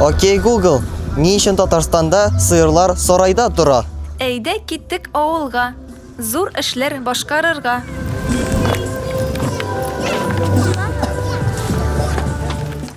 Окей, Google, ни өчен Татарстанда сыерлар сарайда тора? Әйдә киттек авылга, зур эшләр башкарырга.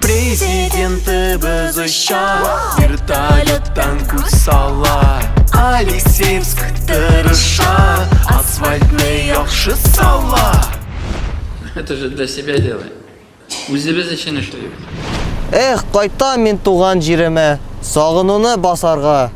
Президентыбыз оча Вертолеттан күз сала Алексеевск тырыша Асфальтны яхшы сала Это же для себя делаем. Үзебез өчен эшлибез. Эх, кайтам мин туган җиремә, сагынуны басарга.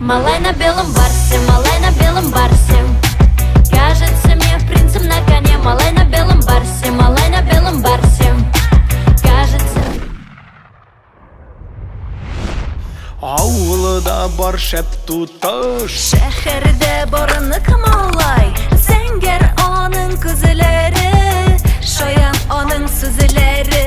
Малай на белом барсе, малай на белом барсе. Кажется мне принцем на коне, малай на белом барсе, малай на белом барсе. Кажется... Ауылыда бар шәп туташ Шәһәрдә барыны кымалай Зәңгәр аның күзләре Шаян аның сүзләре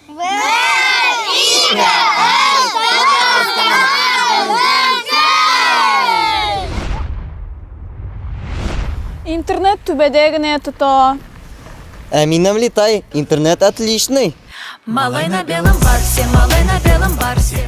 Интернет түбәдә генә тота. Ә минем летай, интернет отличный. Малай на белом барсе, малай на белом барсе.